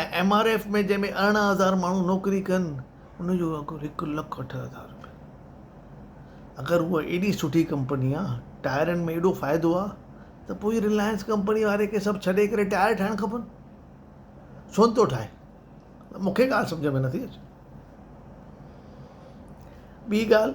۽ M R F ۾ جنهن ۾ ارڙهن هزار ماڻهو نوڪري ڪن ان جو اگهه هڪ لک اٺ هزار رپيا اگر هو ايڏي سٺي ڪمپني آ ٽائرن ۾ ايڏو فائدو آ ته پوء رلائنس ڪمپني واري کي سڀ ڇڏي ڪري ٽائر ٺاهڻ کپن ڇو نٿو ٺاهي مون کي ڳالهه سمجهه ۾ نٿي اچي ٻي ڳالهه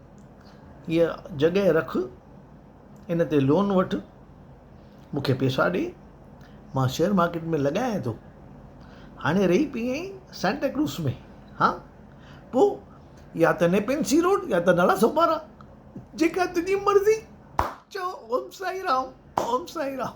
هيء جڳهه رک، ان تي لون وٺ، مون کي پيسا ڏي، مان شيئر مارڪيٽ ۾ لڳايان ٿو. هاڻي رهي پئي آهين سانتا ڪروز ۾، ها؟ پوء يا ته نيپنسي روڊ يا ته نالا سوپارا، جيڪا تنهنجي مرضي. چئو، اوم سائين رام، اوم سائين رام.